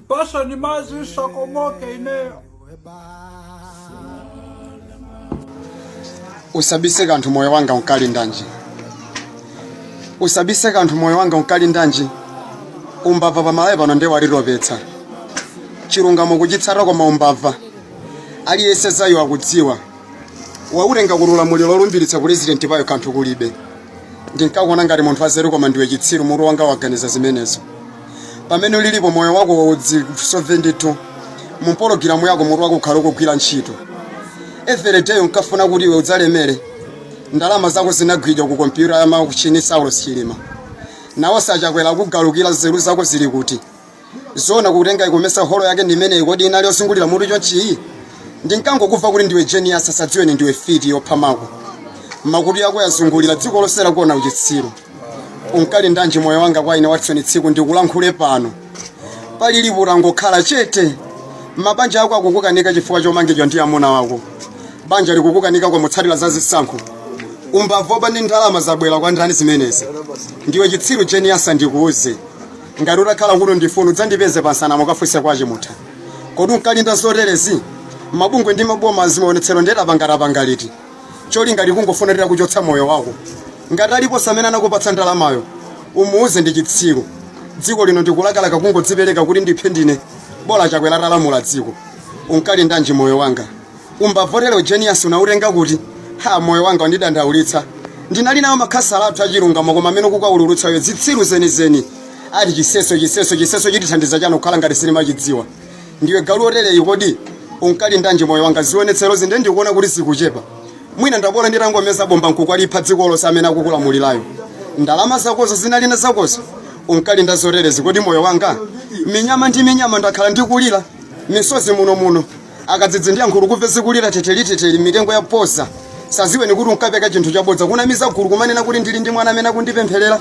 Pasha ni mazi usakomoke ineyo. usabise kanthu moyo wanga unkali ndanji usabise kanthu moyo wanga unkali ndanji umbava pamalawi pano ndiye walitopetsa chilungamo kuchitsata koma umbava aliyense zayo akudziwa wautenga kuti ulamuliro lolumbiritsa pulezidenti pomwe kanthu kulibe ndinkakuona ngati munthu wanzeru koma ndiwe chitsiru mutu wako waganiza zimenezo pamene ulilipo moyo wako waudzisofe ndithu mumpologiramu yako mutu wako ukhale ukugwira ntchito everyday unkafuna kuti iwe udzalemere ndalama zako zinagwidwa ku kompyuta ya MACHINI saulos chilima nawo sachakwera akugalukira nzeru zako zili kuti zona kutenga ikomesa holo yake ndi imeneyi kodi inali yozungulira mutu chonchiyi ndinkangokumva kuti ndiwe genius asadziweni ndiwe fiti yopha mako makutu yako yazungulira dziko lonse lakuona uchitsiru unkali ndanji moyo wanga kwa ine watson tsiku ndikulankhule pano pali livuto angokhala chete mabanja ako akukukanika chifukwa chomangidwa ndi amuna wako banja likukukanika kwa mutsatira za zisankho umbava woba ndi ndalama zabwera kwa ndani zimenezi ndiwe chitsiru genius ndikuuze ngati utakhala kuno ndifuna udzandipeze pansana mukafunse kwache mutha kodi unkalinda zoterezi mabungwe ndi maboma zimaonetsero nde tapangatapanga liti cholinga tikungofuna tira kuchotsa moyo wako ngati aliponse amene anakupatsa ndalamayo umuuze ndi chitsiru dziko lino ndikulakalaka kungodzipereka kuti ndiphe ndine bola chakwera atalamula dziko unkali ndanji moyo wanga umbava wotere u genius unautenga kuti ha moyo wanga wandidandaulitsa ndinali nawo makhasala athu achilungamo koma amene akukuulutsayo zitsiru zenizeni ati chiseso chiseso chiseso chitithandiza chani kukhala ngati sitimachidziwa ndiwe galu otereyi kodi unkali ndanji moyo wanga zionetserozi nde ndikuona kuti zikuchepa mwina ndabola nditangomeza bomba nkukwalipha dziko lonse amene akukulamulirayo ndalama zakozo zinalina zakozo unkalinda zoterezi kodi moyo wanga minyama ndi minyama ndakhala ndikulira misozi muno muno akadzidzi ndi ankhululu kumve zikulira teteliteteli mitengo ya posa osadziweni kuti unkapeka chinthu chabodza kunamiza gulu kumanena kuti ndili ndi mwana amene akundipempherera